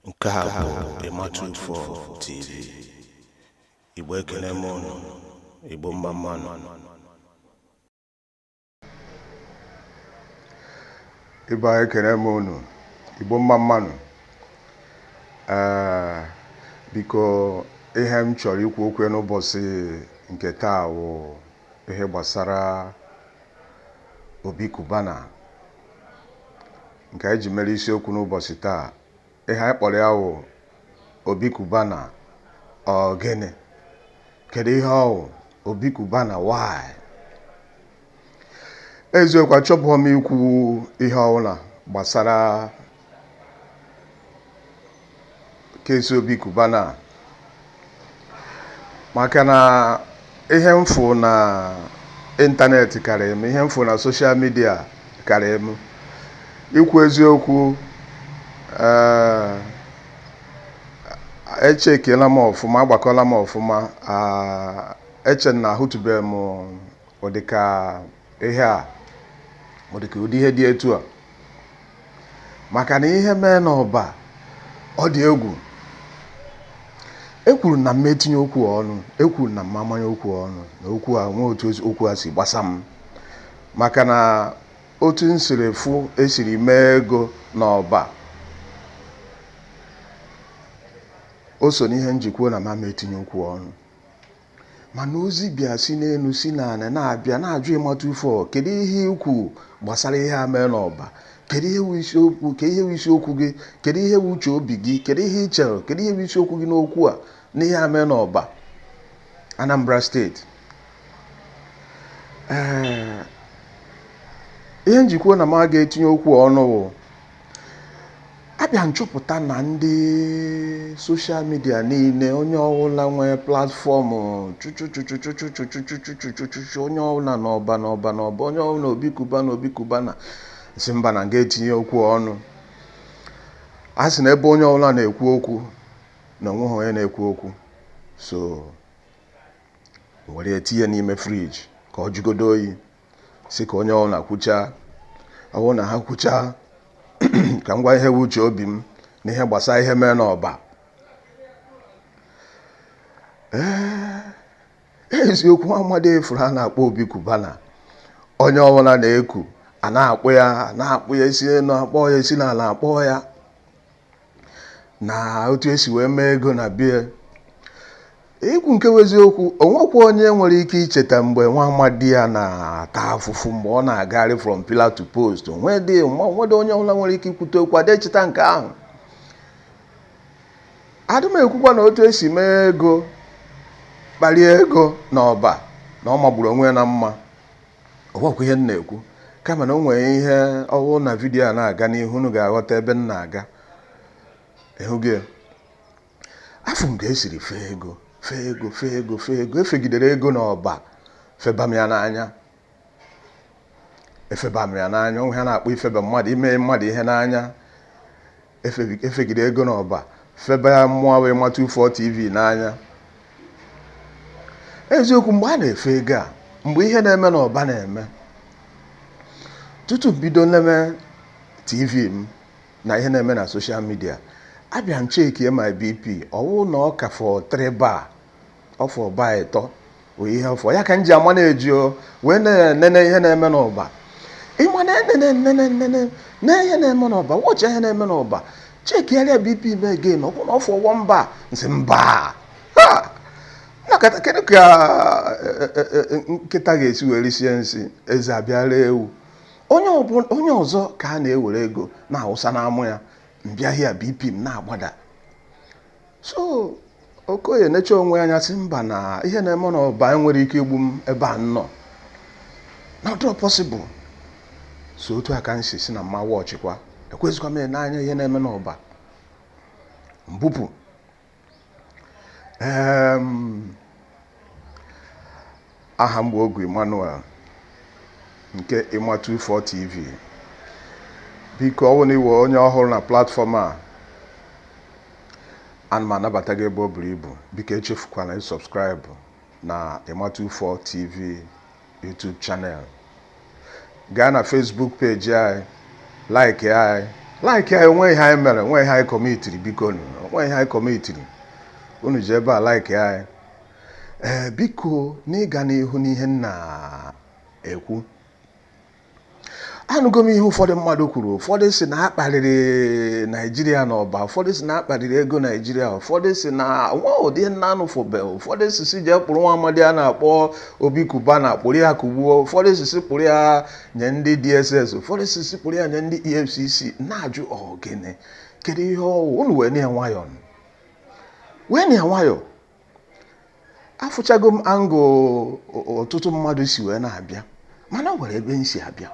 nke a bụ ịma two four tv igbo ekene m ụnụ igbo mma mmanụ ibe anyị ekene m ụnụ igbo mma mmanụ ee biko ihe m chọrọ ikwu okwu n'ụbọchị nke taa wụ ihe gbasara obi cubana nke anyị ji mere isiokwu n'ụbọchị taa ihe anyị kpọrọ ya wụ obi cubana ọ gịnị kedu ihe ọ wụ obi cubana why eziokwu achọbụghọ m ikwu ihe ọwụla gbasara case obi cubana maka na ihe m fụ na ịntanetị karịrị m ihe m fụ na social media karịrị m ikwu eziokwu ee echekiela m ọfụma agbakọla m ọfụma eche m na ahụtụbeghị m ụdịka ihe a ọ dị ka ụdị ihe dị etu a maka na ihe mee n'ọba ọ dị egwu ekwuru na m ama etinye okwu ọnụ ekwuru na m ama amanye okwu ọnụ na okwu a nwee otu okwu a si gbasa m maka na otu m siri fụ e siri mee ego n'ọba o so n'ihe m ji kwuo na m ama etinye okwu ọnụ mana ozi bịa si n'elu si n'ala na-abịa na-ajụ ịma two four kedu ihe i kwu gbasara ihe a mee n'ọba kedu ihe bụ isiokwu kedu ihe bụ isiokwu gị kedu ihe bụ uche obi gị kedu ihe ị chere kedu ihe bụ isiokwu gị n'okwu a n'ihe a mee n'ọba Anambra state ee ihe m ji kwuo na m aga etinye okwu ọnụ wụ abịa m chọpụta na ndị social media niile onye ọbụla nwee platform chuchuchu onye ọbụla na ọba na ọba na ọba onye ọbụla obi cubana obi cubana sị mba na m ga etinye okwu ọnụ a sị na ebe onye ọbụla na-ekwu okwu na onweghị onye na-ekwu okwu so were etinye n'ime fridge ka ọ jụgodo oyi sị ka onye ọbụla kwuchaa ọ bụrụ na ha kwuchaa ka m gwa ihe bụ uche obi m na ihe gbasara ihe mee n'ọba ee eziokwu nwa amadi ị fụrụ a na-akpọ obi cubana onye ọbụla na-eku a na-akpụ ya a na-akpụ ya e si n'elu akpọ ya e si n'ala akpọ ya na otu esi wee mee ego na bie ikwu nke bụ eziokwu onwekwa onye nwere ike icheta mgbe nwa amadi a na-ata afụfụ mgbe ọ na-agagharị from pillar to post onwedị onwedị onye ọbụla nwere ike ikwute okwu adị echeta nke ahụ adị m ekwukwa na otu esi mee ego kparie ego na ọba na ọ magburu onwe ya na mma ọ wụkwa ihe m na-ekwu kama na o nwere ihe ọwụ na vidiyo a na-aga n'ihu unu ga-aghọta ebe m na-aga ịhụgo ya afụ m ka esiri fee ego fee ego fee ego fee ego efegidere ego n'ọba feba m ya n'anya efeba m ya n'anya o nwe ihe a na-akpọ ifeba mmadụ ime mmadụ ihe n'anya efegide ego n'ọba feba ya mụwa wụ Ima 24 tv n'anya eziokwu mgbe a na-efe ego a mgbe ihe na-eme n'ọba na-eme tutu bido neme tv m na ihe na-eme na soshal midia abịa m chekie my bp ọwụ na ọ ka fọ three bar ọfọ bar ịtọ bụ ihe ọfọ ya ka m ji ama na-eji o wee na-enene ihe na-eme n'ọba ịma na-enene ihe na-eme n'ọba wọchị ihe na-eme n'ọba chekigharịa bp m again ọ bụ na ọfọ one bar m sị mba na nkịta kedu ka eh, eh, eh, eh, nkịta ga-esi wee risie nsị eze abịa ree ewu onye ọbụ- onye ọzọ ka a na-ewere ego na-awụsa na mụwa mbịahịa bp m na-agbada so okoye necha onwe anya si mba na ihe na-eme na ọba a nwere ike igbu m ebe m nọ na ọdọ possible so otu a ka m si si na m ma wọchịkwa ekwezikwa m n'anya ihe na-eme n'ọba mbupụ aha m bụ Ogu Emmanuel nke Ima 24 TV biko ọ bụrụ na ị wụ onye ọhụrụ na platfọm a ana m anabata gị ebe o buru ibu biko echefukwana ịsọbskraịbụ na Ima 24 TV YouTube channel gaa na Facebook page anyị like anyị like anyị onwe ihe anyị mere onwe ihe anyị kọmitiri biko onwe ihe anyị kọmitiri unu ji ebe a like anyị ee eh, biko n'ịga n'ihu n'ihe m na-ekwu anụgo m ihe ụfọdụ mmadụ kwuru ụfọdụ si na akparịrị naijiria na ọba ụfọdụ si na akparịrị ego naijiria ụfọdụ si na nwa ụdị nna anụfụbe ụfọdụ si si jee kpụrụ nwa amadi a na-akpọ obi cubana kpụrụ ya kugbuo ụfọdụ si si kpụrụ ya nye ndị dss ụfọdụ si si kpụrụ ya nye ndị efcc na-ajụ ọgịnị kedu ihe ọwụ unu weenụ ya nwayọọ weenụ ya nwayọọ afụchago m angle ọtụtụ mmadụ si wee na-abịa mana nwere ebe m si abịa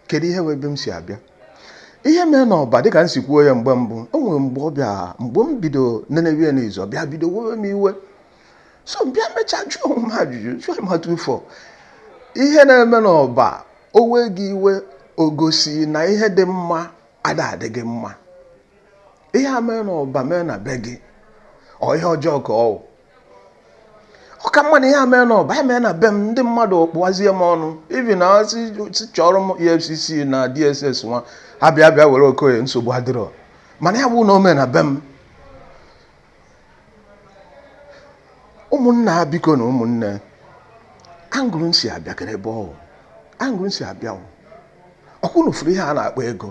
kedu ihe wụ ebe m si abịa ihe mere n'ọba dịka m si kwuo ya mgbe mbụ o nwere mgbe ọ bịa mgbe m bido nenewe ya n'izu ọ bịa bido wewe m iwe so m bịa mechaa jụọ onwe m ajụjụ jụọ m atụ ụfọ ihe na-eme n'ọba o wee gị iwe o gosi na ihe dị mma ada adị gị mma ihe a mee n'ọba mee na be gị ọ ihe ọjọọ ka ọ wụ ọ ka mma na ihe a mee n'ọba ya mee na be m ndị mmadụ kpụwazie m ọnụ even na si si chọrọ m efcc na dss nwa abịa bịa were okoye nsogbu adịrọ mana ya bụ na o mee na be m ụmụnna ha bikonụ ụmụnne angle m si abịa kedu ebe ọ wụ angle m si abịa wụ ọkwa unu fụrụ ihe a na-akpọ ego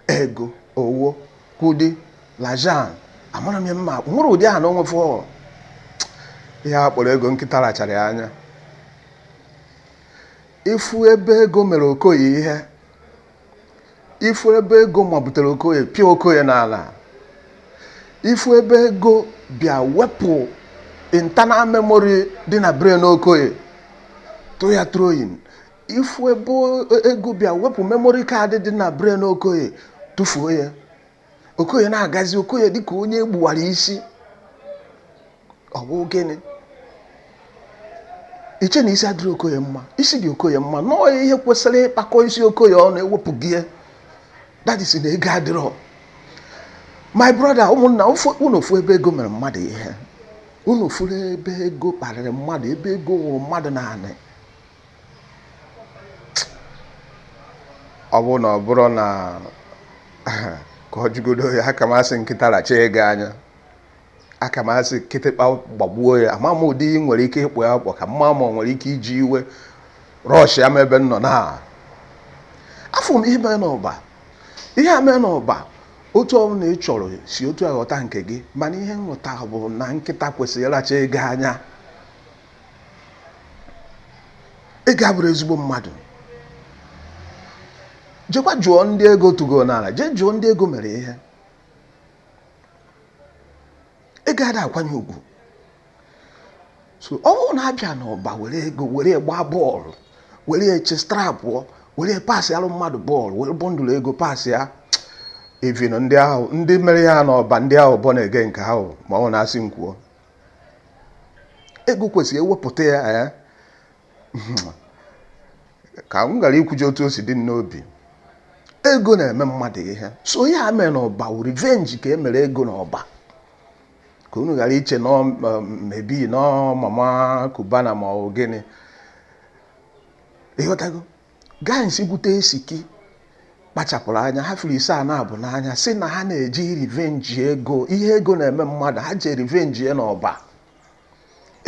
ego owo kudi l'argent amara m ya mma akpụ nwere ụdị aha na o nwe for ihe a kpọrọ ego nkịta rachara ya anya ị fụ ebe ego mere okoye ihe ị fụ ebe ego mabutere okoye pịa okoye n'ala ị fụ ebe ego bịa wepụ internal memory dị na brain okoye tụọ ya throwing ị fụ ebe ego bịa wepụ memory card dị na brain okoye tụfuo ya okoye na-agazi okoye dịka onye e gbuwara isi ọ bụ gịnị i che na isi adịrọ okoye mma isi dị okoye mma nọọ ya ihe kwesịrị ịkpakọ isi okoye ọnụ ewepụgo ya that is na ego adịrọ my brother ụmụnna afụ- unu afụ ebe ego mere mmadụ ihe unu fụrụ ebe ego kparịrị mmadụ ebe ego nwụrụ mmadụ n'anị ọ bụrụ na ọ bụrụ na ka a jigodo ya aka m asị nkịta racha ego anya aka m asị kịtịkpa gbagbuo ya ama m ụdị ị nwere ike ịkpọ ya akpọ ka mma ma ọ nwere ike iji iwe rush ya ma ebe m nọ na afụ m ihe mere n'ọba ihe a mere n'ọba otu ọbụla ị chọrọ si otu a ghọta nke gị mana ihe m ghọta bụ na nkịta kwesịrị ịracha ego anya ego abụrọ ezigbo mmadụ jekwa jụọ ndị ego tụgo n'ala jee jụọ ndị ego mere ihe ego ada akwanye ugwu so ọ bụrụ na a bịa n'ọba were ego were gbaa ball were chest trapụọ were passịalụ mmadụ ball were bundle ego passịa even ndị ahụ ndị mere ya n'ọba ndị ahụ bọ na-ege nke ahụ ma ọ na-asị m kwuo ego kwesịrị ewepụta ya ka m gara ikwuji otu o si dị m n'obi ego na-eme mmadụ ihe so ihe a mere n'ọba wụ revenge ka e mere ego n'ọba ka unu ghara iche na maybe na mama Cubana ma ọ gịnị ịghọtago Guys gwute Esiki kpachapụrụ anya ha furu ise a na-abụ n'anya si na ha na-eji revenge ego ihe ego na-eme mmadụ ha ji revenge ya n'ọba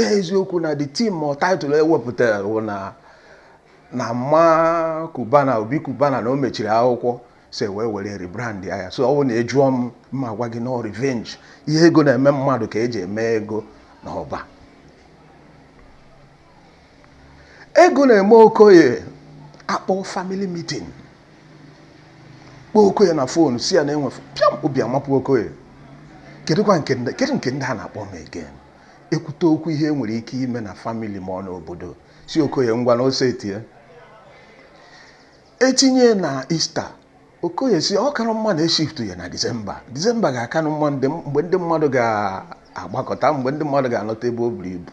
eziokwu na the theme or title ewepụtara wụ na mama Cubana Obi Cubana na o mechiri akwụkwọ si wee were rebrand ya so ọ wụ na ịjụọ m m agwa gị na ọ revenge ihe ego na-eme mmadụ ka eji eme ego n'ọba ego na-eme okoye akpọ family meeting kpọọ okoye na phone si ya na enwe pịam obi amapụ okoye kedụkwa kedụ nke ndị a na-akpọ m again ekwute okwu ihe e nwere ike ime na family ma ọ n'obodo si okoye ngwa na ose etie etinye na Easter okoye si ọ kara mma na e shiftu ya na December December ga-akanụ mma mgbe ndị mmadụ ga-agbakọta mgbe ndị mmadụ ga-anọta ebe o buru ibu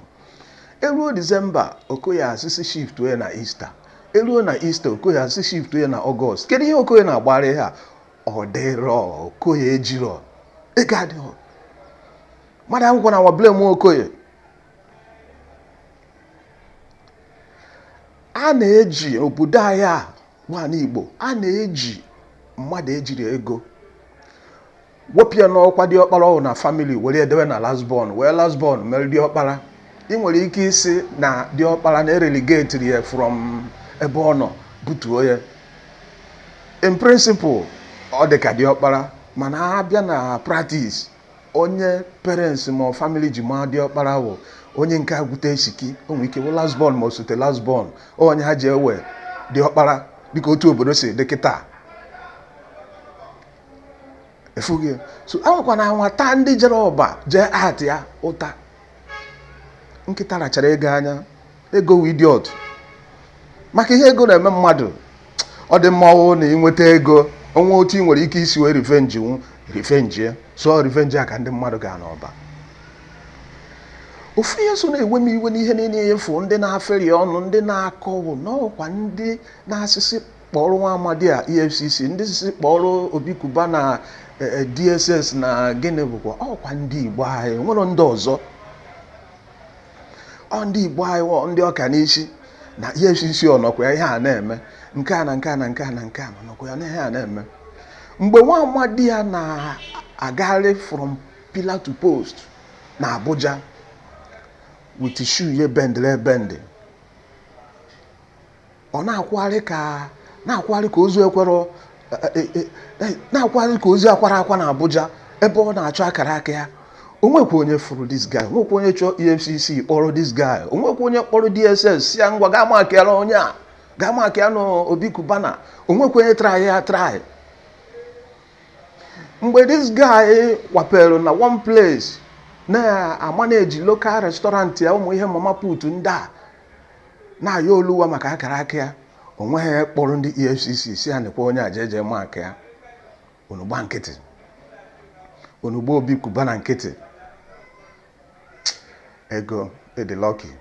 eruo December okoye asịsị shiftu ya na Easter eruo na Easter okoye asịsị shiftu ya na August kedu ihe okoye na-agbara ha ọ dịrọ okoye ejirọ ego adịghị mmadụ agwụkwọ na nwa blame okoye a na-eji obodo anyị a wụ anị Igbo a na-eji mmadụ ejirọ ego wepụ ya n'ọkwa diọkpara ọ wụ na family were ya dewe na last born wee last born mere diọkpara ị nwere ike ịsị na diọkpara na e relegatiri ya from ebe ọ nọ butuo ya in principle ọ dị ka diọkpara mana abịa na practice onye parents ma ọ family ji maa diọkpara wụ onye nke gwute esiki o nwere ike wụ last born ma osote last born onye ha ji ewe diọkpara dịka otu obodo si dị kịta ị fụghị ya. so anwakwana anwa taa ndị jere ọba jee atụ ya ụta nkịta rachara ego anya ego wụ idiot maka ihe ego na-eme mmadụ ọ dị mma ọ wụ na i nweta ego o nwe otu ị nwere ike isi wee revenge nwu revenge ya so revenge a ka ndị mmadụ ga n'ọba ofu ihe so na-ewe m iwe n'ihe niile afụ ndị na-aferi ọnụ ndị na-akọwụ n'ọkwa ndị na-asịsị kpọọrọ nwa amadi a efcc ndị sịsị kpọọrọ Obi Cubana eh, eh, dss na gịnị bụkwa ọkwa ndị igbo anyị nwere ndị ọzọ ọ ndị igbo anyị wụ ndị ọka n'isi na efcc ọ nọkwa ya ihe a na-eme nke a na nke a na nke a na nke a nọkwa ya na ihe a na-eme mgbe nwa amadi a na-agagharị from pillar to post na abuja with shoe ye bendịrị ebendị ọ na-akwụgharị ka na-akwụgharị ka ozu ekwere e, e, e, na-akwụgharị ka ozu akwara akwa na Abuja ebe ọ na-achọ akara aka ya o nwekwa onye fụrụ this guy o nwekwa onye chọọ EFCC kpọrọ this guy o nwekwa onye kpọrọ DSS sị ya ngwa gaa makịara onye a gaa makịa na Obi Cubana o nwekwa onye try ya try mgbe this guy kwapere na one place na-amaneji local restaurant ya ụmụ ihe mama put ndị a na-ayọ oluwa maka akara aka ya o nweghị onye kpọrọ ndị efcc sị ya nekwa onye a jee jee makịa ya unu gba nkịtị unu gba obi kubana nkịtị ego ị dị lucky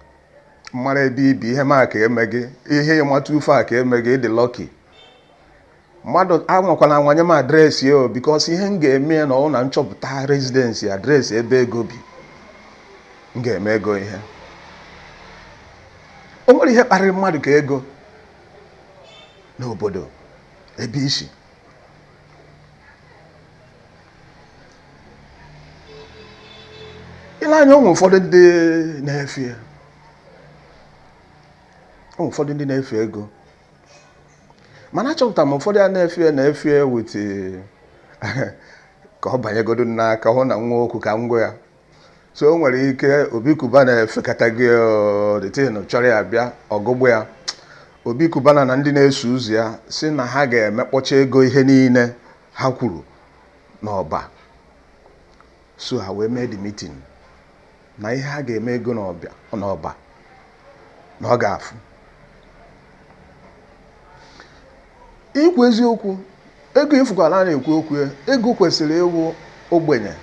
m mara ebe i bi ihe m aka eme gị ihe ịmata ufe a ka eme gị ị dị lucky mmadụ anwakwala anwa nye m address o because ihe m ga-eme na ọ wụrụ na m chọpụta residence address ebe ego bi m ga-eme ego ihe o nwere ihe kparịrị mmadụ ka ego n'obodo ebe isi i le anya o nwe ụfọdụ ndị na-efe o nwe ụfọdụ ndị na-efe ego mana achọpụtara m ụfọdụ a na-efie na-efie wait ka ọ banyegodo n'aka hụ na nwa okwu ka ngwa ya so o nwere ike obi kubana efekata gị the thing chọrọ ya bịa ọgụgbụ ya obi kubana na ndị na-eso ụzọ ya sị na ha ga-emekpọcha ego ihe niile ha kwuru n'ọba so ha wee mee the meeting na ihe ha ga-eme ego n'ọbịa n'ọba na ọ ga-afụ ikwu eziokwu ego ị fụkwala a na-ekwu okwu ya, ego kwesịrị ịwụ ogbenye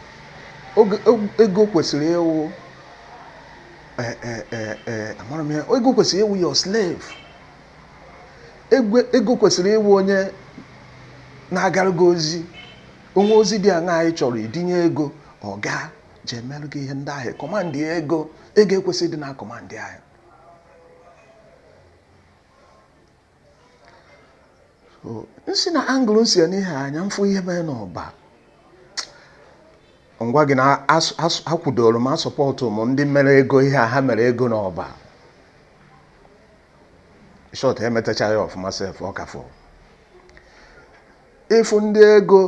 Oge- og- ego kwesịrị ịwụ eh, eh, eh, eh, amara m ya ego kwesịrị ịwụ your slave Egwe- ego kwesịrị ịwụ onye na-agara gị ozi o nwe ozi dị aṅa anyị chọrọ idunye ego ọ gaa jee melụ gị ihe ndị ahụ kọmandị ego ego ekwesịghị ịdị na kọmandị ahụ m si na angle m si ene ihe anya m fụ ihe mere n'ọba m gwa gị na akwadoro m asọpọtụ m ndị mere ego ihe a ha mere ego n'ọba short emetachaghị ọfụma sef ọ ka fọ ị fụ ndị ego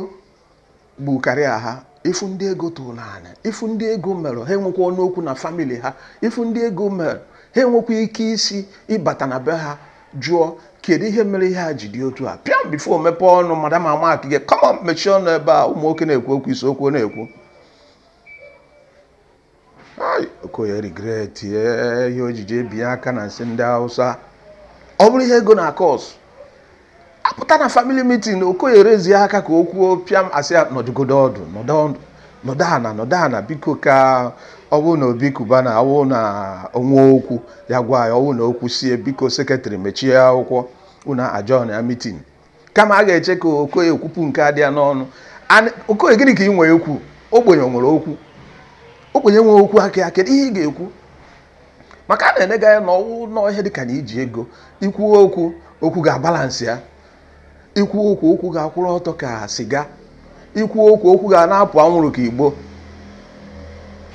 gbukarịa ha ị fụ ndị ego tụrụ n'ana ị fụ ndị ego mere ha enwekwa ọnụ okwu na family ha ị fụ ndị ego mere ha enwekwa ike isi ịbata na be ha jụọ kedu ihe mere ihe a ji dị otu a pịam before i mepee ọnụ madam amakie gị come on mechie ọnụ ebe a ụmụ nwoke na-ekwu okwu i sokwu na-ekwu okoye regretie ihe o ji je binye aka na nsị ndị hausa ọ bụrụ ihe ego na-acause apụta na family meeting okoye raisie aka ka o kwuo pịam asị ya nọdụgodo ọdụ nọdụ ana nọdụ ana biko ka ọ bụrụ na obi cubana ọ wụ na o nwe okwu ya gwa ya ọ wụ na o kwusie biko secretary mechie akwụkwọ unu adjournịa meeting kama a ga-eche ka okoye kwupụ nke a dị ya n'ọnụ okoye gịnị ka ị nwere ikwu ogbenye nwere okwu ogbenye nwere okwu aka ya kedu ihe ị ga-ekwu maka a na-enega ya na ọ wụ na ihe dịka na i ji ego i kwuo okwu okwu gị abalancịa i kwuo okwu okwu gị akwụrụ ọtọ ka siga i kwuo okwu okwu gị a na-apụ anwụrụ ka igbo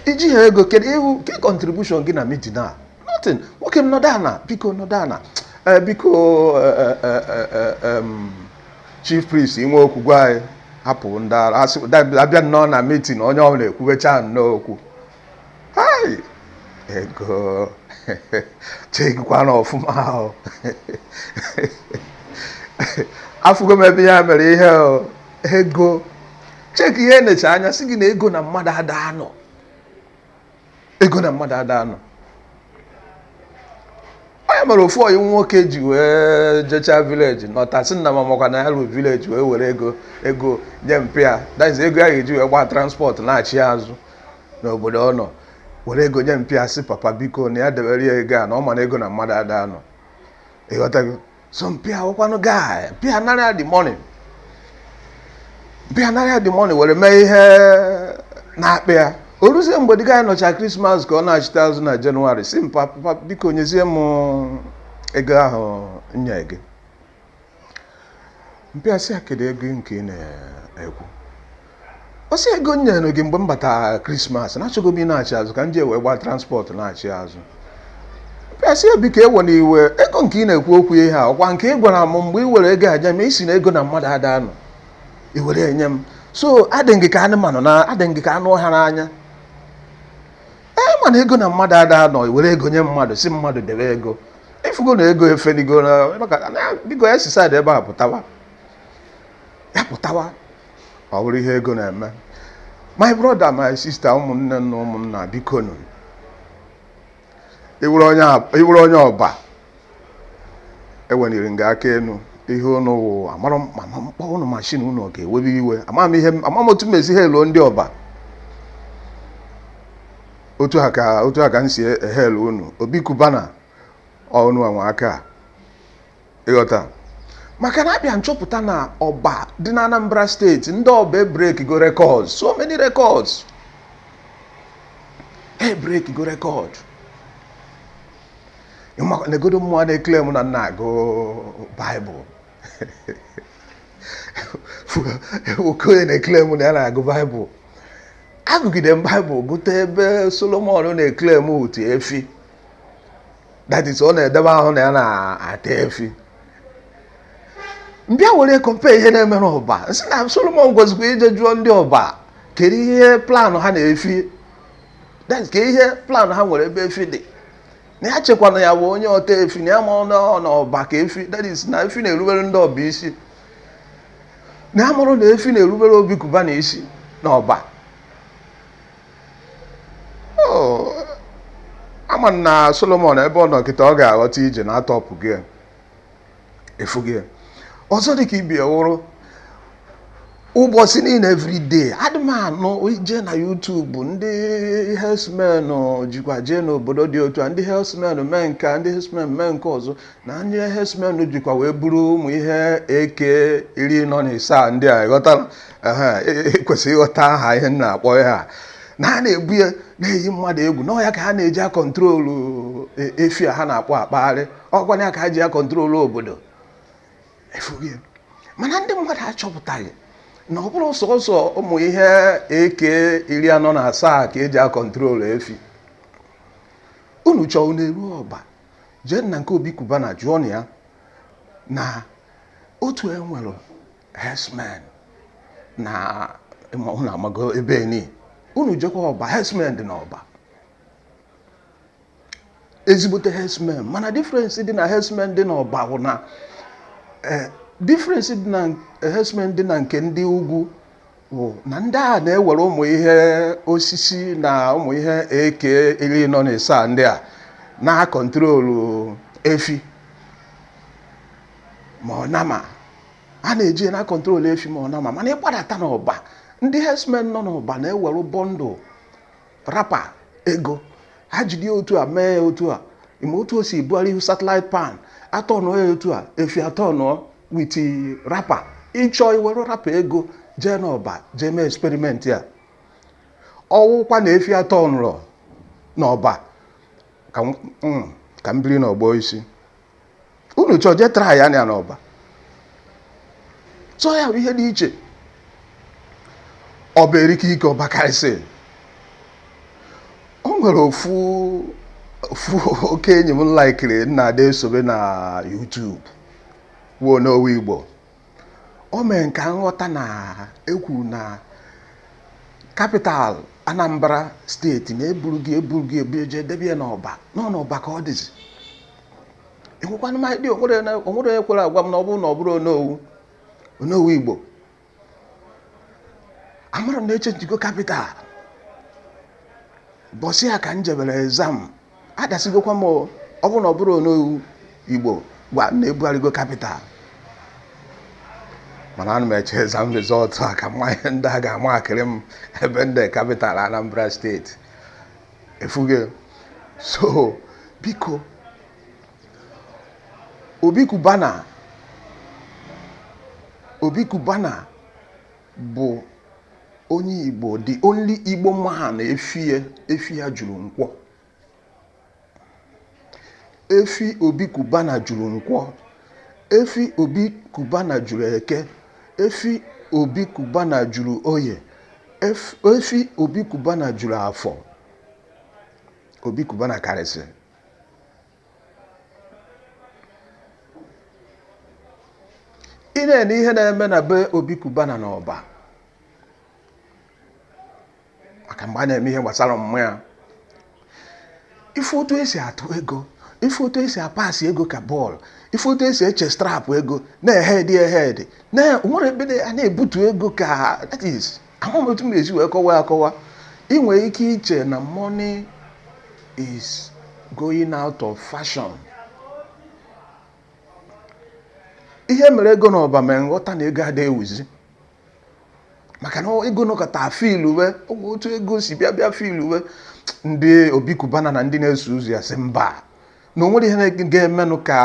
i jiha ego kedu ihu ke contribution gị na meeting a nothing nwoke m nọdụ ana biko nọdụ ana ee biko eh, eh, eh, eh, em, chief priest i nwe okwu gwa anyị hapụ ndị ara asị da- abịa nnọọ na meeting onye ọbụla ekwubecha nnọọ okwu hai ego chegikwana ọfụma ahụ afụgo m ebe ya mere ihe o. ego cheki ihe e nechaa anya sị gị na ego na mmadụ ada anọ ego na mmadụ ada anọ ọ ihe mere ofu ọyị nwoke ji wee jechaa village nọta sị nna m amakwa na ya ruo village wee were ego nye mpa ya that is ego ya ga-eji wee gbaa transport nachịa azụ n'obodo ọ nọ were ego nye mpa ya sị papa biko na ya debere ya ego a na ọ ma na ego na mmadụ ada anọ ịghọtago so mpa ya wụkwanụ guy mpa ya narịa the money mpa ya narịa the money were mee ihe na-akpa ya o ruzie mgbe the guy nọcha christmas ka ọ nachịta azụ na january sị mpa papa biko nyezie m ego ahụ nye gị mpa ya sị ya kedu ego nke ị na-ekwu ọ sị ego m nyere gị mgbe m batara christmas na achọgo m ịnachị azụ ka m ji wee gbaa transport nachị azụ mpa ya sị ya biko ewena iwe ego nke ị na-ekwu okwu ya ọ kwa nke ị gwara m mgbe ị were ego aja ma ị sị na ego na mmadụ ada anọ i were ya nye m so adị m gị ka anụmanụ na adị m gị ka anụ ọhịa n'anya ị ma na ego na mmadụ ada anọ i were ego nye mmadụ sị mmadụ debe ego ịfụgo na ego efenigo na maka na biko ya si side ebe a pụtawa ya pụtawa ọ bụrụ ihe ego na-eme my brother my sister ụmụnne na ụmụnna biko nụ ị wụrụ onye ab- ị wụrụ onye Ọba eweniri nga aka enu ihe ụnụ wụ amara m ma ma m kpọọ ụnụ mashin ụnụ ọ ga-ewebe iwe ama m ihe m- ama m otu m esi hailuo ndị Ọba otu a ka otu a ka m si ehail unu Obi Cubana unu anwaka. ịghọta maka na abịa m chọpụta na Ọba dị na Anambra State ndị Ọba ebreakgo record so many records ebreakgo record negodo mụwa na-eclaim na m na-agụ Bible nwoke onye na-eclaim na ya na-agụ Bible agụgide m Bible gụta ebe Solomon na-eclaim ọta efi that is ọ na-edebe ahụ na ya na-ata efi m bịa were compare ihe na-eme n'Ọba sị na Solomon gwazikwa ije jụọ ndị Ọba kedu ihe plan ha na efi that ka ihe plan ha nwere ebe efi dị na ya chekwana ya bụ onye ọta efi na ya ma na Ọba ka efi that is na efi na-erubere ndị Ọba isi na ya mara na efi na-erubere Obi Cubana isi n'Ọba Oh, ama m na Solomon ebe ọ nọ kịta ọ ga-aghọta ije na atọpụ gị ya. efu gị ya. ọzọ dị ka ibe ya wụrụ ụbọchị niile everyday adị m anụ ije na YouTube ndị herdsmen jikwa jee n'obodo dị otu a ndị herdsmen mee nke a, ndị herdsmen mee nke ọzọ na ndị herdsmen jikwa wee buru ụmụ ihe AK iri anọ na isaa ndị a ịghọta ekwesịghị e, e ịghọta aha ihe m na-akpọ ya a na ha na-ebu ya na-eyi mmadụ egwu na ọ ya ka ha na-eji akọntrolu e, efi a ha na-akpọ akpagharị ọ kwanụ ya ka ha ji akọntrolu obodo mana ndị mmadụ achọpụtaghị na ọ bụrọ sọsọ ụmụ ihe AK iri anọ na asaa ka e ji akọntrolu efi unu chọọ unu eruo Ọba jee na nke Obi Cubana jụọnụ ya na otu e nwere herdsmen na unu amago ebe ni unu jekwa Ọba herdsmen dị n'Ọba ezigbote herdsmen mana difference dị na herdsmen dị n'Ọba bụ na eh, difference dị na herdsmen dị na nke ndị ugwu wụ na ndị a na-ewere ụmụ ihe osisi na ụmụ ihe AK iri anọ na isaa ndị a na-akọntrolu efi ma ọ nama ha na-eji na-akọntrol efi ma ọ nama mana ị gbadata n'Ọba ndị herdsmen nọ n'Ọba na-ewere bundle rapa ego ha jide otu a mee ya otu a ị ma otu o si bugharị ihu satellite pan atọnụọ ya otu a efi atọnụọ with rapa ịchọ iwere rapa ego jee n'ọba jee mee experiment ya ọ wụkwa na efi atọnụrụ n'ọba ka m biri n'ọgbọ isi unu chọọ jee try ya n'ọba so ya bụ ihe dị iche ọba erike ike ọba karịsị o nwere ofu ofu oke enyi m laikiri m na-adị esobe na YouTube wụ Onowu Igbo o mee ka m ghọta na e kwuru na capital Anambra State na eburugo eburugo eburu jee debe ya n'ọba na ọ n'ọba ka ọ dịzi enwekwana m idea o nwere na- o nwere onye kwere agwa m na ọ bụrụ na ọ bụrọ Onowu Onowu Igbo amarọ m na echenjigo capital bọsị ya ka m jebere exam adasigokwa m o, ọ bụrụ na ọ bụrọ Onowu Igbo gwa m na ebugharịgo capital mana ana m eche exam result a ka m ma ihe ndị a ga-amakịrị m ebe m dere capital Anambra State efuge so biko Obi Cubana Obi Cubana bụ onye igbo the only igbo man efi ya efi ya juru nkwọ Efi Obi Cubana juru nkwọ. Efi Obi Cubana juru eke. Efi Obi Cubana juru oye. Ef- Efi Obi Cubana juru afọ. Obi Cubana karịsị. Ị na-ene ihe na-eme na be Obi Cubana n'Ọba. maka mgbe a na-eme ihe gbasara mama ya ị fụ otu e si atụ ego ị fụ otu e si apasị ego ka bọọlụ ị fụ otu e si echestrapụ ego na-ehedị ehedị na nwere ebe a na-ebutu ego ka that is amaghị m otu m esi wee kọwa akọwa ị nwere ike iche na money is going out of fashion ihe e mere ego n'ọba mere m ghọta na ego adịghị ewuzi maka na ego nọkata filuwe otu ego si bịa bịa filuwe ndị Obi Cubana na ndị na-eso ụzọ ya sị mba na o nwere ihe ga-emenụ ka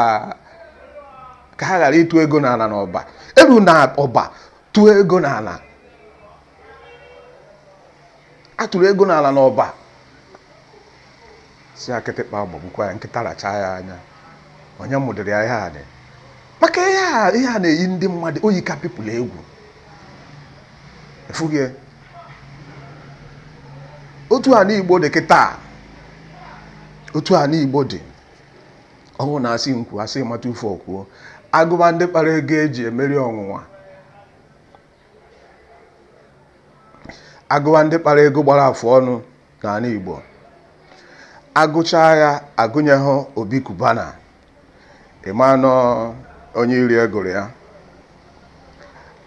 ka ha ghara ịtụ ego n'ala n'ọba eru n'ọba tụọ ego n'ala atụrụ ego n'ala n'ọba sị ya kịtịkpa gbagbukwa ya nkịta rachaa ya anya onye mụdịrị ya ihe a dị maka ihe a ihe a na-eyi ndị mmadụ oyi ka people egwu efughị ya. otu anị Igbo dị kịta otu anị Igbo dị ọ wụ na asị nkwu asị mata ufe ọkwuo agụba ndị kpara ego eji emeri ọnwụnwa agụwa ndị kpara ego gbara afụ ọnụ n'anị Igbo agụchaa ya agụnyeghị Obi Cubana ị ma na ọ onye iro gụrụ ya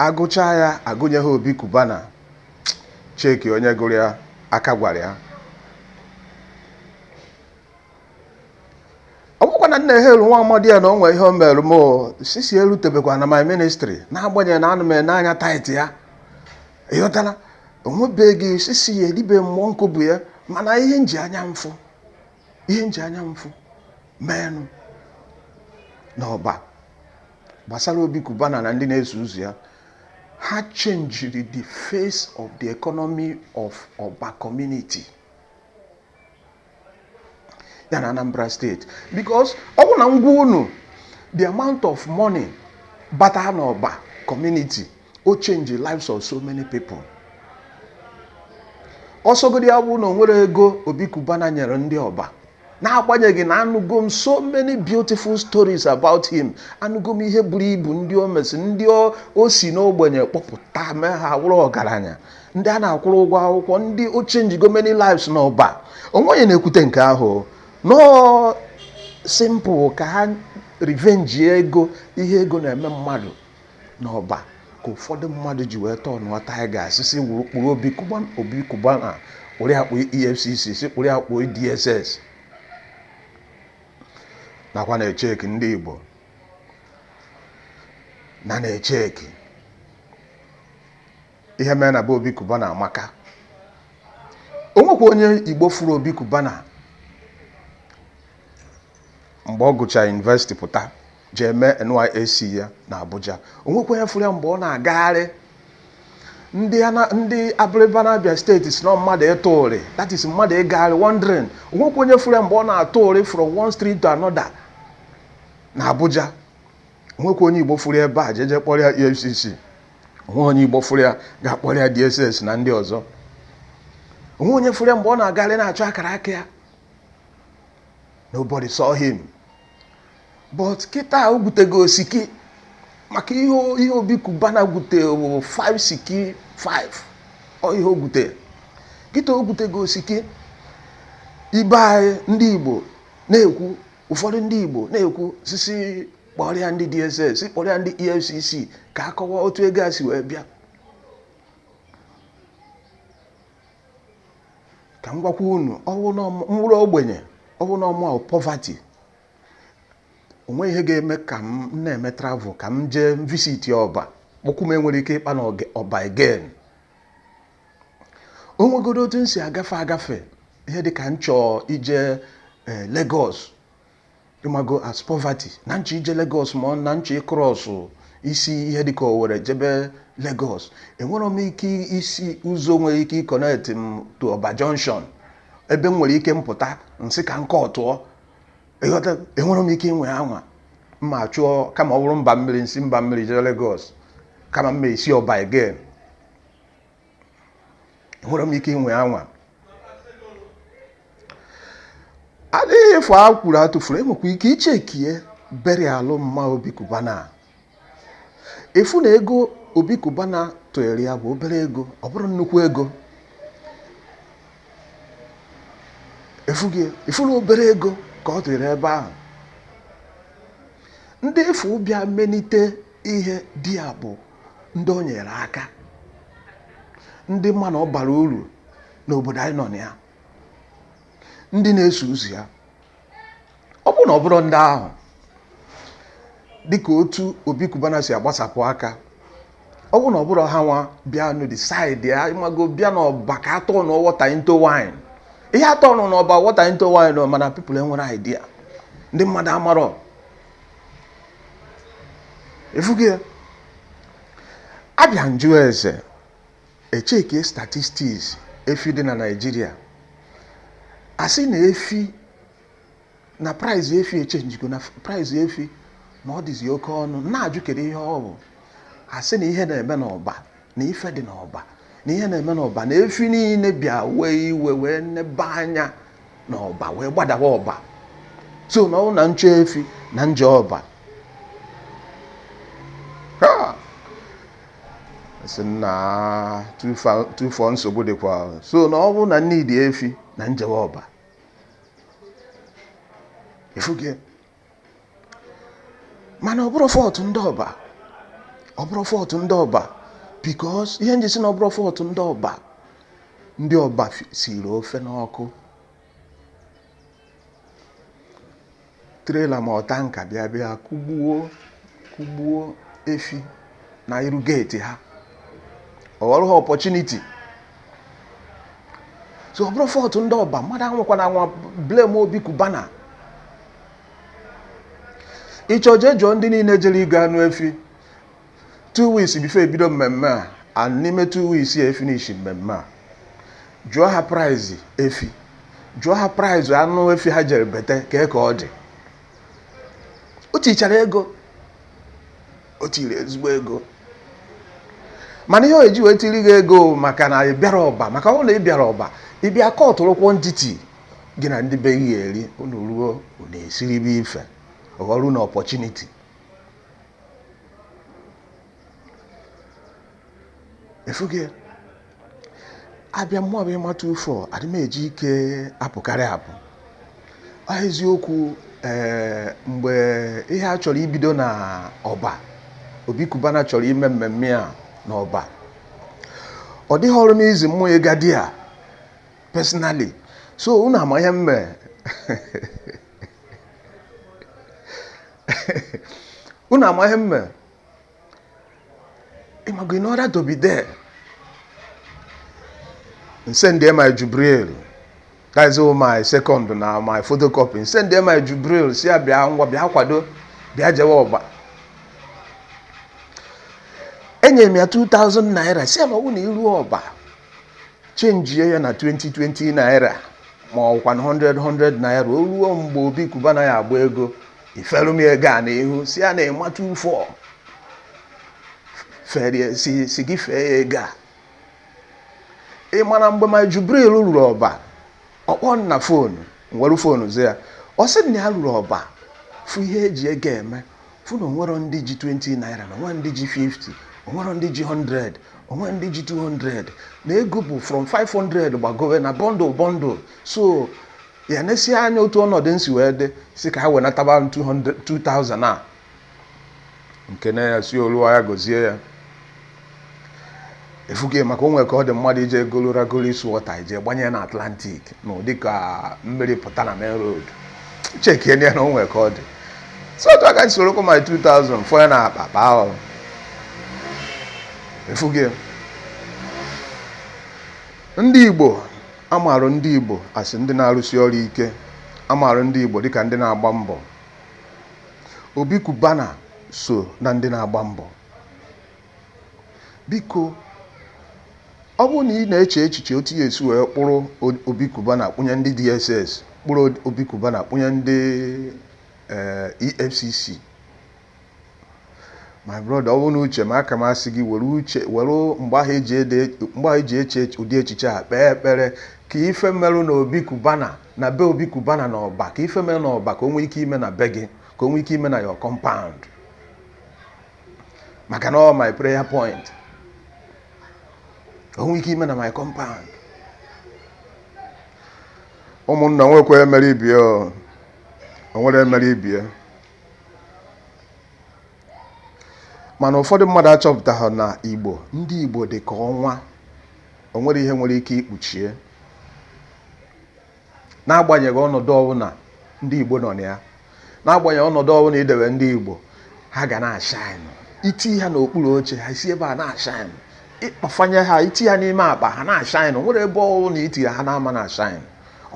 agụchaa ya agụnyeghị Obi Cubana cheki onye gụrụ ya aka gwara ya ọ bụkwa na m na-ehelu nwa amadi ya na onwe ihe o mere m sisi ya erutebekwana my ministry n'agbanyeghị na anọ m n'anya tithe ya ịghọtala onwebeghị sisi ya dị be mụ nke ọ bụ ya mana ihe m ji anya m fụ ihe m ji anya m fụ menụ n'ọba gbasara obi kubana na ndị na-eso ụzọ ya ha chenjiri the face of the economy of ọba community ya na Anambra State because ọ bụ na m gwa unu the amount of money bata n'ọba community o change the lives of so many people ọsọgodi ya bụ na onwere ego Obi Cubana nyere ndị ọba n'agbanyeghị na anụgo m so many beautiful stories about him anụgo m ihe buru ibu ndị o mesi ndị o si n'ogbenye kpọpụta mee ha wụrụ ọgaranya ndị a na-akwụrụ ụgwọ akwụkwọ ndị o chenjigo many lives n'ọba o nwe onye na-ekwute nke ahụ no simple ka ha revenge ego ihe ego na-eme mmadụ n'ọba ka ụfọdụ mmadụ ji wee tọnụọ tiger si si wuru kpụrụ Obi Cuba Obi Cubana kpụrụ akpụ efcc si kpụrụ akpụ dss nakwa na-echeki ndị igbo na na-echeki ihe mere na be Obi Cubana maka o nwekwa onye Igbo fụrụ Obi Cubana mgbe ọ gụchara university pụta jee mee NYSC ya na Abuja o nwekwa onye fụrụ ya mgbe ọ na-agagharị ndị abịrịba na Abia State si na mmadụ ịtụ ụrị that is mmadụ ịgagharị wandering onwekwa onye fụrụ ya mgbe ọ na-atụ ụrị from one street to another na Abuja onwekwa onye Igbo fụrụ ebe a jeje kpọrọ ya EFCC o nwe onye igbo fụrụ ya ga-akpọrọ ya DSS na ndị ọzọ o nwe onye fụrụ ya mgbe ọ na-agarị na-achọ akara aka ya nobody saw him but kịta o gwutego osiki maka ihe ihe Obi Cubana gwute bụ 5 siki 5 ọ ihe o gwute kịta o gwutego osiki ibe anyị ndị igbo na-ekwu ụfọdụ ndị igbo na-ekwu sị sị kpọrọ ya ndị DSS kpọrọ ya ndị EFCC ka a kọwa otu ego a si wee bịa ka m gwakwa unu m wụrụ ogbenye ọ wụ na ọ mụ poverty o nwe ihe ga-eme ka m na-eme travel ka m jee visit ọba kpọkwụ m enwere ike ịkpa na ọba again o nwegodo otu m si agafe agafe ihe dị ka m chọọ ije eh, Lagos ị mago as poverty na m chọ ije Lagos ma na m chọ ịcross isi ihe dịka Owere jebe Lagos enwere m ike isi ụzọ nwere ike ịconnect m to Oba Junction ebe m nwere ike m pụta m sị ka nke ọtụọ ị ghọta enwere m ike ịnwa anwa m ma achọ kama ọ bụrụ m ba mmiri m si m ba mmiri jee Lagos kama m ma esi Oba again enwere m ike ịnwa anwa adịghị efu a kwuru atụfuru enwekwa ike ichekie burial mma Obi Cubana ị fụ na ego Obi Cubana tụnyere ya bụ obere ego ọ bụrọ nnukwu ego ị fụgo ị fụ na obere ego ka ọ tụnyere ebe ahụ ndị ị fụ bịa melite ihe dị ya bụ ndị o nyere aka ndị ma na ọ bara uru n'obodo anyị nọ na ya ndị na-eso ụzọ ya ọ bụrụ na ọ bụrụ ndị ahụ dịka otu Obi Cubana si agbasapụ aka ọ bụrụ na ọ bụrụ hanwa bịa nụ decide ya ị mago bịa n'ọba ka a turn water into wine ihe a turn n'ọba water into wine mana people enwere idea ndị mmadụ amarọ ị fụgo ya abịa m jụ ese echeke statistics efi dị na Nigeria a sị na efi na price efi echenjigo na price efi na ọ dịzi oke ọnụ na-ajụ kedu ihe ọ bụ a sị na ihe na-eme n'ọba na ife dị n'ọba na ihe na-eme n'ọba na efi niile bịa wee iwe wee nebe anya n'ọba wee gbadawa ọba so na ọ bụ na m chọ efi na m je ọba a sị na tụfọ nsogbu dịkwa so na ọ bụ na m need efi na m jewa ọba ị fụgo mana ọ bụrọ fault ndị ọba ọ bụrọ fault ndị ọba because ihe nji sị na ọ bụrọ fault ndị ọba ndị ọba fi- siri ofe n'ọkụ trailer ma ọ tanker bịa bịa kụgbuo kụgbuo efi na iru gate ha ọ ghọrọ ha opportunity so ọ bụrọ fault ndị ọba mmadụ anwakwana anwa blame obi cubana ị chọọ jee jụọ ndị niile jere ịgo anụ efi two weeks before e bido mmemme a and n'ime two weeks ya efinishi mmemme a jụọ ha price efi jụọ ha price anụ efi ha jere bete ka ka ọ dị o tichara ego o tiri ezigbo ego mana ihe o ji wee tiri gị ego maka na ị bịara ọba maka ọ na ị bịara ọba ị bịa kọtụrụ quantity gị na ndị be gị eri unu ruo unu esiribe ife ghọrọ unu opportunity efughị a bịa mmụa bụ emma 24 adị m eji ike apụkarị apụ ọ eziokwu ee mgbe ihe a chọrọ ibido na ọba obi cubana chọrọ ime mmemme a na ọba ọ dịghịrị m easy mmụa ịga there personally so unu ama ihe m me unu ama ihe m me ị mago in order to be there m send my jubril that is my second na my photocopy m send my jubril sị ya bịa ngwa bịa kwado bịa jewe ọba enyere m ya 2000 naira sị ya ma ọ bụ na i ruo ọba change ya na 20 20 naira ma ọkwanụ 100 100 naira o ruo mgbe obi cubana ya-agba ego i felu m ya ego a n'ihu sị ya na emma 24 ferie si si gị fee ya ego a ị mara mgbe my jubril ruru ọba ọ kpọọ m na phone m were phone za ya ọ sị na ya ruru ọba fụ ihe e ji ego eme fụ na onwero ndị ji 20 naira na onwero ndị ji 50 onwero ndị ji 100 onwero ndị ji 200 na ego bụ from 500 gbagowe na bundle bundle so ya na-esi anya otu ọnọdụ nsi wee dị sị ka ha wenataba 2000 a nke na ya si olu ya gozie ya efughị maka onwe ka ọ dị mmadụ ije egolu ragolu isu wọta ije gbanye na atlantic na ụdị ka mmiri pụta na main road chekie ya na onwe ka ọ dị so otu aka soro kwa my 2000 fọ ya na akpa baa ọrụ efughị ndị igbo A maara ndị Igbo as ndị na-arụsi ọrụ ike. A maara ndị Igbo dịka ndị na-agba mbọ. Obi Cubana so na ndị na-agba mbọ. Biko, ọ bụrụ na ị na-eche echiche otu ị ya-esi wee kpụrụ Obi Cubana kpụnye ndị DSS, kpụrụ Obi Cubana kpụnye ndị EFCC, my brother ọ bụrụ na uche m aka m asị gị were uche were mgbe ahụ i ji ede mgbe ahụ i ji eche ụdị echiche a kpee ekpere ka ife merụ na obi kubana na be obi kubana na ọba ka ife mere na ọba ka o nwee ike ime na be gị ka o nwee ike ime na your compound maka na ọ my prayer point o nwee ike ime na my compound ụmụnna nwekwa emere ibie o nwere emere ibie mana ụfọdụ mmadụ achọpụtaghị na igbo ndị igbo dị ka ọnwa o nwerọ ihe nwere ike ikpuchi ya n'agbanyeghị ọnọdụ ọbụla ndị igbo nọ na ya n'agbanyeghị ọnọdụ ọbụla i dewe ndị igbo ha ga na-ashine i tii ha n'okpuru oche ha si ebe a na-ashine ị kpafanye ha i tii ha n'ime akpa ha na-ashine nwere ebe ọ bụrụ na itiri ha na-ama na-ashine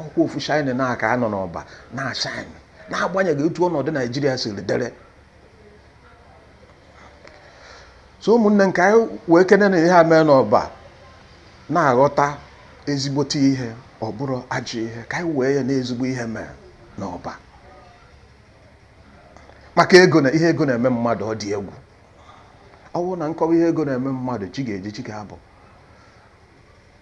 ọkwa ofu shine a ka a nọ n'ọba na-ashine n'agbanyeghị otu ọnọdụ naijiria siri dere so ụmụnne m ka anyị wee kene na ihe a mee n'ọba na-aghọta ezigbote ihe ọ bụrọ ajọ ihe ka anyị wee ya na ezigbo ihe mee n'ọba maka ego na ihe ego na-eme mmadụ ọ dị egwu ọ bụrụ na m kọwa ihe ego na-eme mmadụ chi ga-eji chi ga-abọ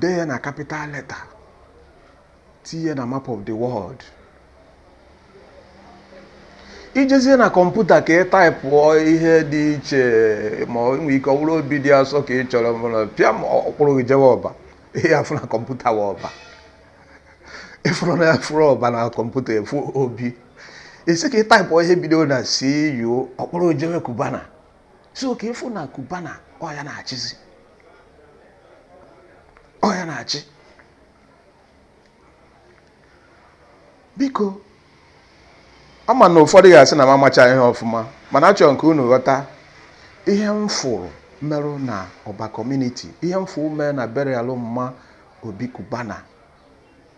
dee ya na capital letter tinye na map of the world i jezie na kọmputa ka ị taịpụọ ihe dị iche ma o nwee ike ọ bụrụ obi dị asọ ka ị chọrọ mana pịa ma ọ kpụrụ gị jewe ọba ihe afụ na kọmputa wụ ọba ị fụrụ na a fụrụ ọba na kọmputa efu obi ị sị ka ị taịpụọ ihe bido na cu ọ kpụrụ gị jewe kubana so ka ị fụ na kubana ọ ya na-achịzi ọ ya na-achị biko ama m na ụfọdụ ga-asị na m amacha ihe ọfụma mana achọrọ m ka unu ghọta ihe m fụrụ merụ na ọba community ihe m fụrụ mere na burial mma obi kubana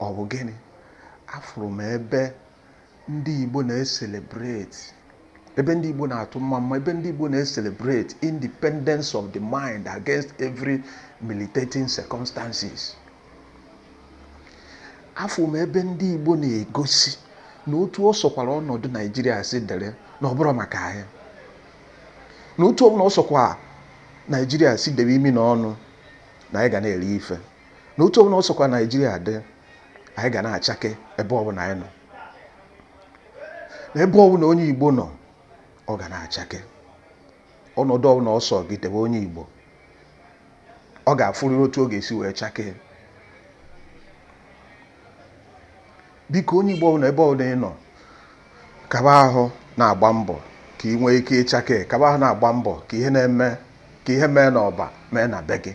ọ bụ gịnị afụrụ m ebe ndị Igbo na-eselebreti ebe ndị Igbo na-atụ mma mma ebe ndị Igbo na-eselebreti independence of the mind against every militating circumstances afụrụ m ebe ndị Igbo na-egosi na otu ọ sọkwara ọnọdụ Naijiria si dịrị na ọ bụrọ maka anyị na otu ọbụla ọ sọkwa Naijiria si debe imi na ọnụ na anyị ga na-eri ife na otu ọbụla ọ sọkwa Naijiria dị anyị ga na-achake ebe ọbụla anyị nọ n'ebe ọbụla onye Igbo nọ ọ ga na-achake ọnọdụ ọbụla ọ sọ gị debe onye Igbo ọ ga-afụrịrị otu ọ ga-esi wee chakee biko onye Igbo ọbụla ebe ọbụla ị nọ kaba ahụ na-agba mbọ ka ị nwee ike ịchake kaba ahụ na-agba mbọ ka ka ihe mee n'Ọba mee na be gị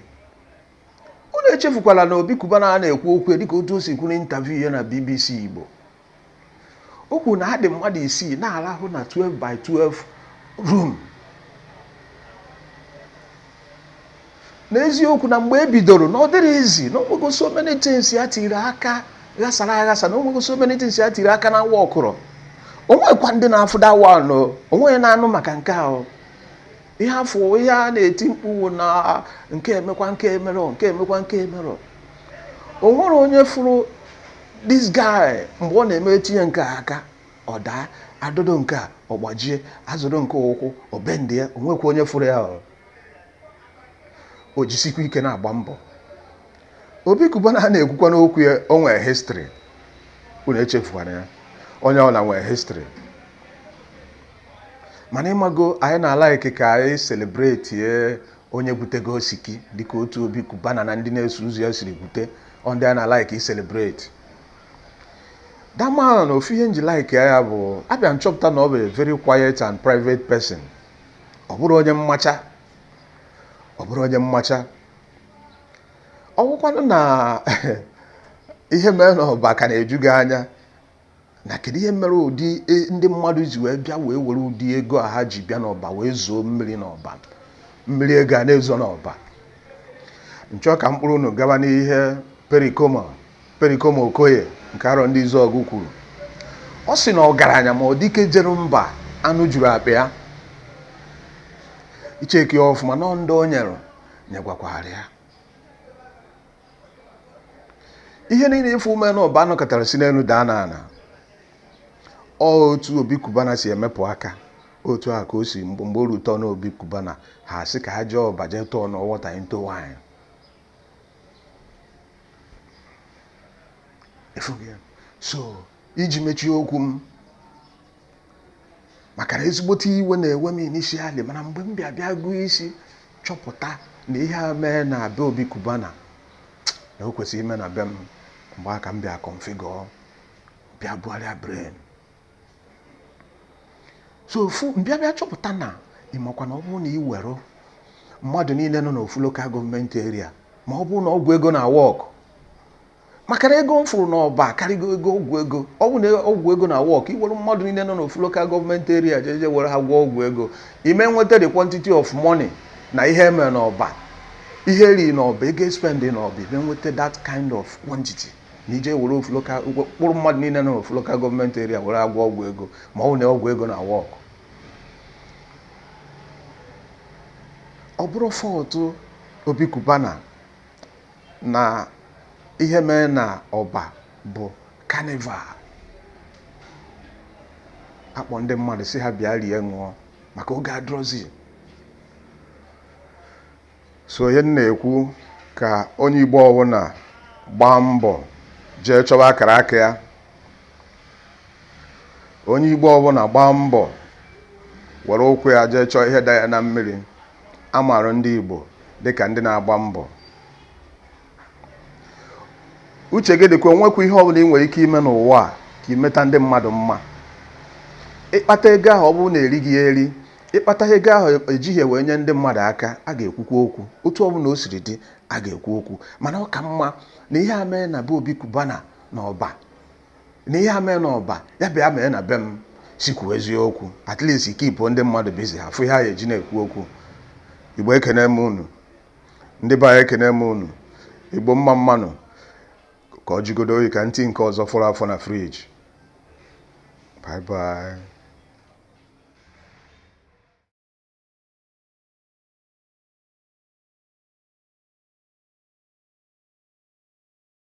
unu echefukwala na Obi Cubana a na-ekwu okwu dịka otu o si kwuru n'intaviu ya na BBC Igbo o kwuru na ha dị mmadụ isii na-arahụ na 12 by 12 room n'eziokwu na mgbe e bidoro na ọ dịrọ easy na o nwego so many things ya tiri aka ghasara aghasa na o nwego so many things ya tiri aka na nwa ọ kwụrọ o nwekwa ndị na-afụda wa onweghị na-anụ maka nke ahụ ihe afụ ihe a na-eti mkpu wụ na nke emekwa nke emerọ nke emekwa nke emerọ o nwere onye fụrụ this guy mgbe ọ na-eme etinye nke a aka ọ daa adọdo nke a ọ gbajie azọdo nke a ụkwụ ọ bendị ya o nwekwa onye fụrụ ya o jisikwa ike na-agba mbọ Obi Cubana a na-ekwukwa n'okwu ya o nwere history unu echefukwana ya onye ọbụla nwere history mana ịmago anyị na-alaiki ka anyị selebreti onye gwutego osiki dịka otu Obi Cubana na ndị na-eso ụzọ ya siri gwute ọ ndị anyị na-alaiki iselebreti dama na ofu ihe m ji like ya bụ abịa m chọpụta na ọ bụ a very quiet and private person ọ bụrọ onye mmacha ọ bụrọ onye mmacha ọ bụkwanụ na ihe mere n'Ọba ka na-eju gị anya na kedu ihe mere ụdị e, ndị mmadụ ji wee bịa wee were ụdị ego a ha ji bịa n'Ọba wee zoo mmiri n'Ọba mmiri ego a na-ezo n'Ọba m chọ ka m kpọrọ unu gaba n'ihe Pericoma Pericoma Okoye nke Arọndịzuọgụ kwuru ọ sị na ọgaranya ma ọ dike jere mba anụ juru akpa ya i chekie ya ọfụma na ọ ndị o nyere nyegwakwara ya ihe niile ị fụ mee na Ọba nọkatara si n'elu daa na ana ọ otu Obi Cubana si emepụ aka otu a ka o si mgbe o ru turn Obi Cubana ha sị ka ha jee Ọba jee turn water into wine so iji mechie okwu m maka na ezigbote iwe na-ewe m initially mana mgbe m bịa bịa gụọ isi chọpụta na ihe a mee na be Obi Cubana na o kwesịrị ime na be m mgbe a ka m bịa configure bịa bugharịa brain so ofu m bịa bịa chọpụta na ị makwa na ọ bụrụ na ị were mmadụ niile nọ n'ofu local government area ma ọ bụrụ na ọgwụ ego na work maka na ego m fụrụ n'ọba karịgo ego ọgwụ ego ọ bụ na ọgwụ ego na work ị were mmadụ niile nọ n'ofu local government area jeje were ha gwọọ ọgwụ ego ị ma enweta the quantity of money na ihe e mere n'ọba ihe e ri n'ọba ego e spend n'ọba ị ma enweta that kind of quantity na ị je were ofu local kpụrụ mmadụ niile nọ n'ofu local government area were ha gwọọ ọgwụ ego ma ọ bụ na ọgwụ ego na work ọ bụrọ fault Obi Cubana na ihe mee na Ọba bụ carnival a kpọ ndị mmadụ sị ha bịa rie ṅụọ maka oge adịrọzi so ihe m na-ekwu ka onye igbo ọbụna gbaa mbọ jee chọba akara aka ya onye igbo ọbụla gbaa mbọ were ụkwụ ya jee chọọ ihe da ya na mmiri A maara ndị Igbo dịka ndị na-agba mbọ. Uche gị dịka o nwekwa ihe ọbụla ị nwere ike ime n'ụwa a ka ị meta ndị mmadụ mma. Ị kpata ego ahụ ọ bụrụ na erighị ya eri, ị kpata ego ahụ ejighị ya wee nye ndị mmadụ aka, a ga-ekwukwa okwu. Otu ọbụla o siri dị, a ga-ekwu okwu. Mana ọ ka mma na ihe a mee na be Obi Cubana na Ọba na ihe a mee n'Ọba ya bịa mee na be m si kwuo eziokwu at least keep ndị mmadụ busy ha fụ ihe ha ya-eji na-ekwu okwu igbo ekene m unu ndị be anyị ekene m unu igbo mma mma nụ ka ọ jigodu oyi ka m tii nke ọzọ fọrọ afọ na fridge bye bye